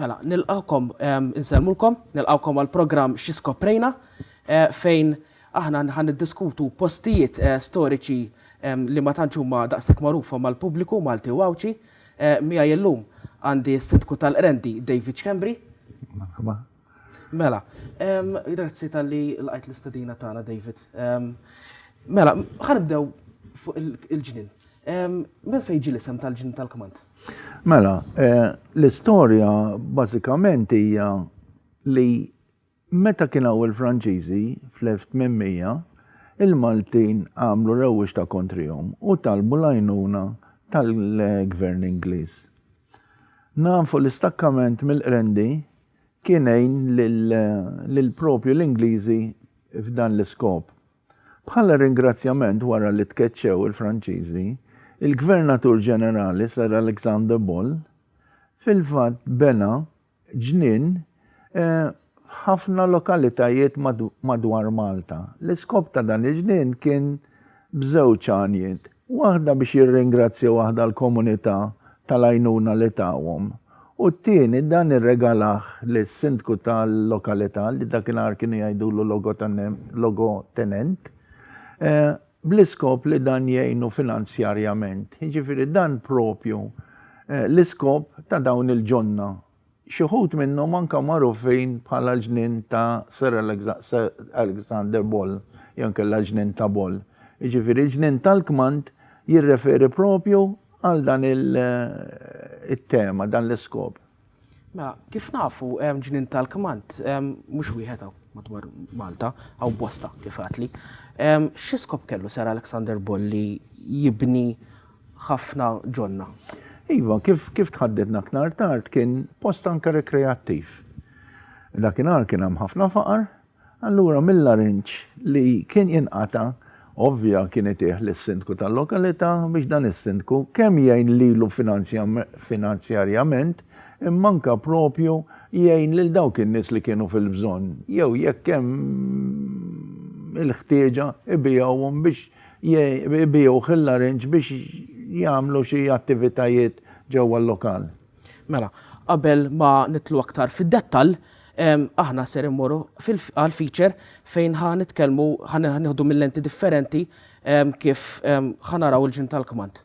Mela, nilqakom, insellmulkom, nilqakom għal programm xi skoprejna eh, fejn aħna nħan diskutu postijiet eh, storiċi li ma tantx huma daqshekk magħrufa mal-pubbliku Malti u Għawdxi. Eh, Mija jellum għandi s-sitku tal-Qrendi David Schembri. Mela, grazzi talli lqajt l-istedina tagħna David. Mela, ħa nibdew fuq il-ġnien. Minn fejn ġie l-isem tal-ġnien tal-kmand? Mela, l-istorja bażikament hija li meta kien hawn il-Franċiżi fl-1800, il-Maltin għamlu rewwixta kontrihom u talbu l-għajnuna tal-Gvern Ingliż. Nafu l-istakkament mill-Qrendi kien għin lil propju l-Ingliżi f'dan l-iskop. Bħala ringrazzjament wara li tkeċċew il-Franċiżi, il-Gvernatur Ġenerali Sir Alexander Ball fil-fatt bena ġnien f'ħafna lokalitajiet madwar Malta. L-iskop ta' dan il-ġnien kien b'żewġ għanjiet. waħda biex jirringrazzjaw aħda l-komunità tal-għajnuna li tawhom u t-tieni dan irregalah lis-Sindku tal-lokalità li dakinhar kienu jgħidulu logotenent bl-iskop li dan jgħinu finanzjarjament. Jiġifieri dan propju l-iskop ta' dawn il-ġonna Xi wħud minnhom anke magħrufin bħala l-ġnien ta' Sir Alexander Ball jew inkella l-ġnien ta' Ball. Jiġifieri l-ġnien tal-kmand jirreferi propju għal dan it-tema, dan l-iskop. Mela, kif nafu hemm ġnien tal-kmand mhux wieħed hawn madwar Malta, hawn bosta kif għadtli. Xi skop kellu Sir Alexander Ball li jibni ħafna ġonna. Iva, kif kif tħaddidna aktar tard kien post anke rekreattiv. Dakinhar kien hemm ħafna faqar, allura mill-arinġ li kien jinqata' ovvja kien itih lis-sindku tal-lokalità biex dan is-sindku kemm jgħin lilu finanzjarjament imma anke propju jgħin lil dawk in-nies li kienu fil-bżonn jew jekk hemm il-ħtieġa ibiegħuhom biex jbiegħuh il-larinġ biex jagħmlu xi attivitajiet ġewwa l-lokal. Mela, qabel ma nitlu aktar fid-dettall, aħna ser immorru għal feature fejn ħa nitkellmu ħa nieħdu mill-lenti differenti kif ħa naraw il-ġinn tal-kmand.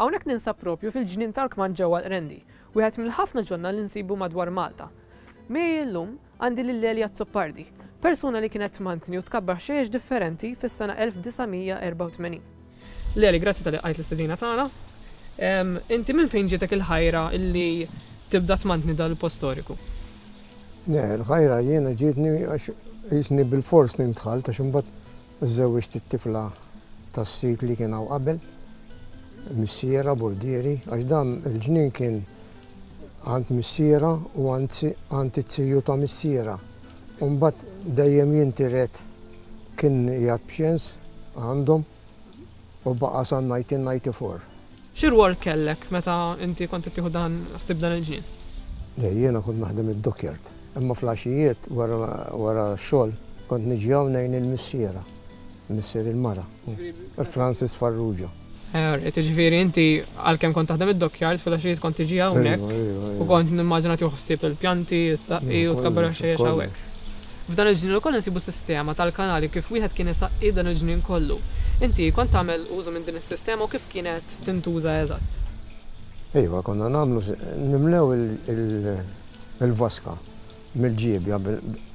Hawnhekk ninsab proprju fil-ġnien tal-kmand ġewwa l-Qrendi, wieħed mill-ħafna ġonna li nsibu madwar Malta. Miegħi llum għandi lil Eli Azzopardi, persuna li kienet tmantni u tkabbar ħxejjex differenti fis-sena 1984. Lil Eli, grazzi talli qajt l-istedina tagħna. Inti minn fejn ġietek il-ħajra li tibda tmantni dan il-post storiku? Le, l-ħajra jiena ġietni għax qisni bilfors li ntħalt għax imbagħad Żżewwiġt it-tifla tas-sid li kien hawn qabel, missierha, Bulghieri, għax dan il-ġnien kien għand missierha u għand it-tiju ta' missierha. U mbagħad dejjem jintiret kien qiegħed b'xens għandhom u baqa' sa 1994. Xi rwol kellek meta inti kont qed tieħu dan ħsieb dan il-ġnien? Le, jiena kont naħdem id-dockyard. Imma fl-għaxijiet wara x-xogħol kont niġi hawn ngħin lil missiera, missier il-mara, Frances Farrugia. Alright, jiġifieri inti għalkemm kont taħdem id-dockyard fil-għaxijiet kont tiġi hawnhekk u kont nimmaġina tieħu ħsieb il-pjanti, is-saqqi u tkabbar għax-xejjex hawnhekk. F'dan il-ġnien ukoll insibu sistema tal-kanali kif wieħed kien isaqqi dan il-ġnien kollu. Inti kont tagħmel użu minn din is-sistema u kif kienet tintuża eżatt? Iva, konna nagħmlu, nimlew il-vaska mill-ġiebja,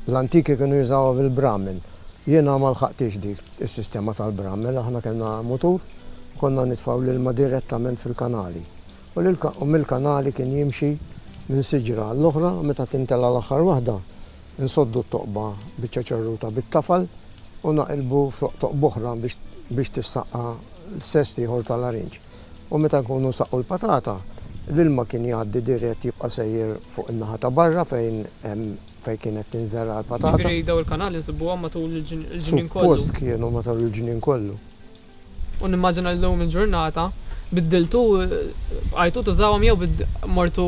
l-antiki kienu jużawha bil-bramel. Jiena ma lħaqtix dik is-sistema tal-bramel, aħna kellna mutur, konna nitfgħu l-ilma direttament fil-kanali. U mill-kanali kien jimxi minn siġra għall-oħra, meta tintela' l-aħħar waħda, Insoddu t-toqba biċċa ċerruta bit-tafal u naqilbu fuq toqba oħra biex tissaqqa l-sest ieħor ta' larinġ. U meta nkunu nsaqqu l-patata, l-ilma kien jgħaddi dirett jibqa' sejjer fuq in-naħa ta' barra fejn fejn kienet tinżergħa l-patata. Ġifieri dawn il-kanali nsibuhom matul il-ġnien kollu? Suppost kienu matul il-ġnien kollu. U nimmaġina li llum il-ġurnata biddiltu bqajtu tużawhom jew mortu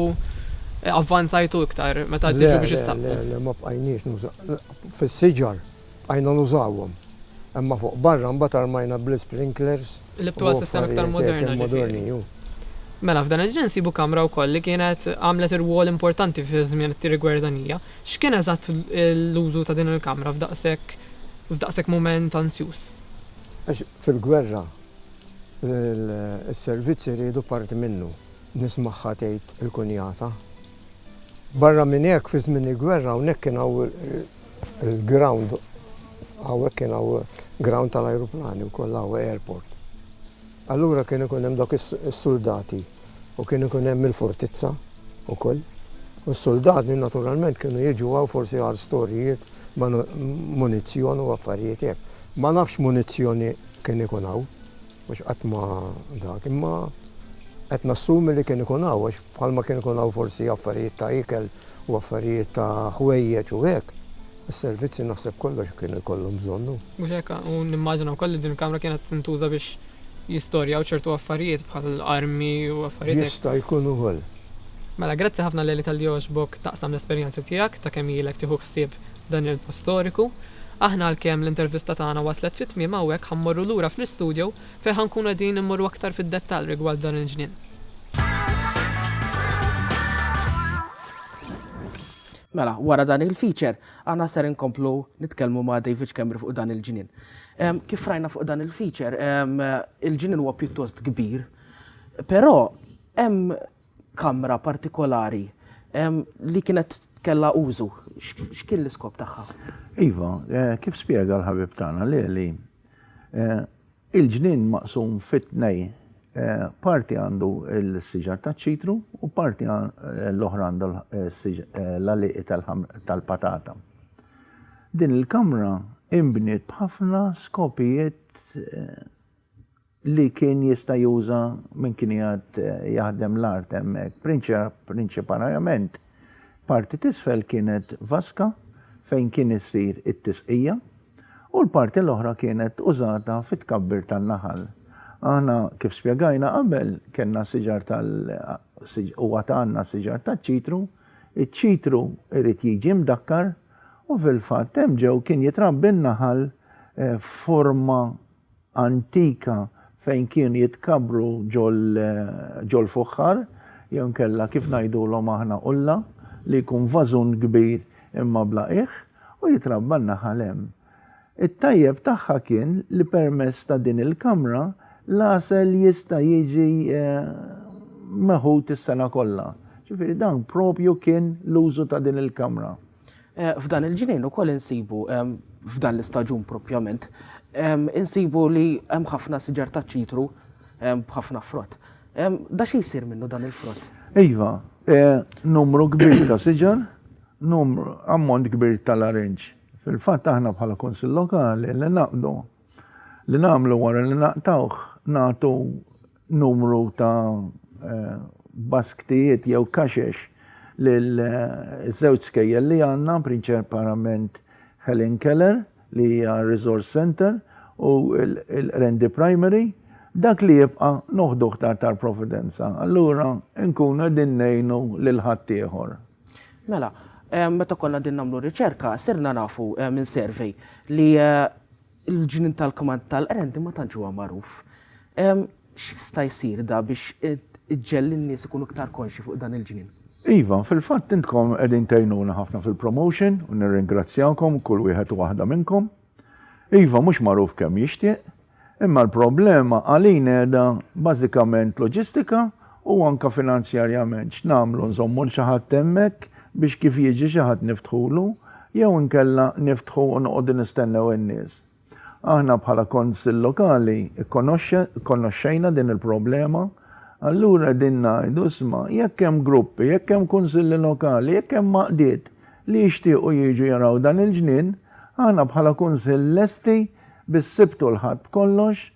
eh, avvanzajtu iktar meta tiġu biex issaqbu. Le, ma bqajniex fis-siġar bqajna nużawhom. Imma fuq barra mbagħad armajna bl-sprinklers. Li btuha sistema iktar moderna. Moderni, Mela f'dan il-ġen sibu kamra wkoll li kienet għamlet irwol importanti fi żmien it-tirigwerdanija. X'kien eżatt l-użu ta' din il-kamra f'daqshekk f'daqshekk mument ansjuż? Għax fil-gwerra is-servizz iridu parti minnu. Nismagħha tgħid il-kunjata. Barra minn hekk fi żmien il-gwerra hawnhekk kien il-ground hawnhekk kien ground tal-ajruplani wkoll hawn airport. Allura kien ikun hemm dawk is-suldati u kien ikun hemm il-fortizza wkoll. U s-suldati naturalment kienu jiġu hawn forsi għal storijiet, munizzjon u affarijiet hekk. Ma nafx x'munizzjoni kien ikun hawn, għax qatt ma dak, imma qed nassumi li kien ikun hawn għax Bħalma kien ikun hawn forsi affarijiet ta' ikel u affarijiet ta' ħwejjeġ u hekk, is-servizzi naħseb kollox kienu jkollhom bżonnu. Mhux hekk, u nimmaġina wkoll li din il-kamra kienet tintuża biex jistorjaw ċertu affarijiet bħal armi u affarijiet hekk. Jista' jkun ukoll. Mela, grazzi ħafna Leli talli għoġbok taqsam l-esperjenzi tiegħek ta' kemm ilek tieħu ħsieb dan il-post storiku. Aħna għalkemm l-intervista tagħna waslet fi tmiem hawnhekk ħa mmorru lura fl-istudio fejn ħa nkunu qegħdin immorru aktar fid-dettall rigward dan il-ġnien. Mela, wara dan il-feature, għana ser inkomplu nitkellmu ma' David Kemri fuq dan il-ġinin. Kif rajna fuq dan il-feature, il-ġinin huwa pjuttost kbir, però hemm kamra partikolari li kienet kella użu. X'kien l-iskop tagħha? Iva, eh, kif spjega l-ħabib tagħna li li Il-ġnien maqsum fi tnej, parti għandu l-siġar taċ-ċitru u parti l-oħra għandha l-għalieqi tal-patata. Din il-kamra inbniet b'ħafna skopijiet Li kien jista' juża min kien qiegħed jaħdem l-art hemmhekk. Prinċiparajament, parti t'isfel kienet vaska fejn kien issir it-tisqija u l-parti l-oħra kienet użata fit-tkabbir tan-naħal. Aħna, kif spjegajna qabel, kellna siġar tal huwa ta għandna siġar taċ-ċitru. Iċ-ċitru jrid jiġi mdakkar u fil-fatt hemm ġew kien jitrabbi n-naħal f'forma antika fejn kienu jitkabbru ġol-fuħħar, jew inkella kif ngħidulhom aħna qulla, li jkun vażun kbir imma bla qiegħ, u jitrabba n-naħal hemm. It-tajjeb tagħha kien li permezz ta' din il-kamra l-għasel jista' jiġi meħud is-sena kollha. Ġifieri dan propju kien l-użu ta' din il-kamra. F'dan il-ġnien ukoll insibu, f'dan l-istaġun propjament, insibu li hemm ħafna siġar taċ-ċitru b'ħafna frott. Da xi jsir minnu dan il-frott? Iva, numru kbir ta' siġar, numru, ammont kbir tal-arinġ. Fil-fatt aħna bħala Kunsill Lokali li naqdu, li nagħmlu wara li naqtgħuh, nagħtu numru ta' basktijiet jew kaxex lil żewġ skejjel li għandna, prinċiparament Helen Keller li hija r-Resource Centre u l-Qrendi Primary, dak li jibqa' noħduh ta' Tar Providenza. Allura nkunu qegħdin ngħinu lil ħaddieħor. Mela, meta konna qegħdin nagħmlu riċerka sirna nafu minn survey li Il-ġnien tal-kmand tal-qrendi ma tantx huwa magħruf. X'jista' jsir da biex iġġegħel lin-nies ikunu iktar konxji fuq dan il-ġnien? Iva, fil-fatt intkom qegħdin tgħinuna ħafna fil-promotion u nirringrazzjakom kull wieħed u waħda minnkom. Iva, mhux magħruf kemm jixtieq, imma l-problema għalina qiegħda bażikament loġistika U anke finanzjarjament x'nagħmlu, nżommu 'l xi ħadd hemmhekk biex kif jiġi xi ħadd niftħulu, jew inkella niftħu u noqogħdu nistennew in-nies? Aħna bħala Kunsill Lokali kkonoxxejna din il-problema, allura qegħdin ngħidu, isma', jekk hemm gruppi, jekk hemm Kunsilli Lokali, jekk hemm għaqdiet li jixtiequ jiġu jaraw dan il-ġnien, aħna bħala Kunsill lesti bis-Sibt u l-Ħadd b'kollox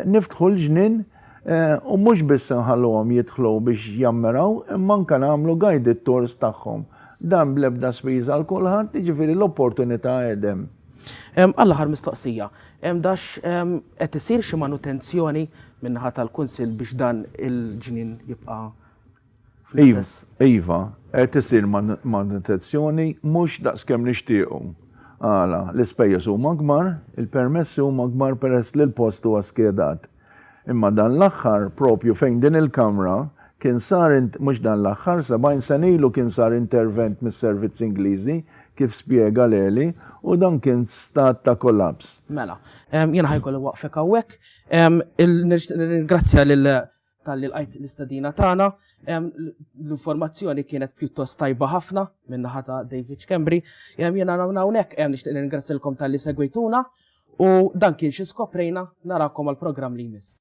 niftħu l-ġnien U mhux biss inħalluhom jidħlu biex jammiraw, imma anke nagħmlu guided tours tagħhom. Dan bl-ebda spiża għal kulħadd, jiġifieri l-opportunità qed hemm. Għall-aħħar mistoqsija, dax qed isir xi manutenzjoni min-naħa tal-Kunsill biex dan il-ġnien jibqa' Iva, qed isir manutenzjoni mhux daqskemm nixtiequ. Għala? L-ispejjeż huma akbar, il-permessi huma akbar peress li l-post huwa skedat. Imma dan l-aħħar, proprju fejn din il-Kamra, kien sar, mhux dan l-aħħar, 70 sena ilu kien sar intervent mis-servizzi Ingliżi, kif spjega l-għeli, u dan kien f'stat ta' kollaps. Mela, jiena ħa jkolli waqfek hawnhekk. Nixtieq nirringrazzja lil talli lqajt l-istadina tagħna. L-informazzjoni kienet pjuttost tajba ħafna minn naħa ta' David Kembri. Jiena hawnhekk hemm nixtieq ningrazzilkom talli segwituna u dan kien xi skoprejna narakom għall-programm li jmiss.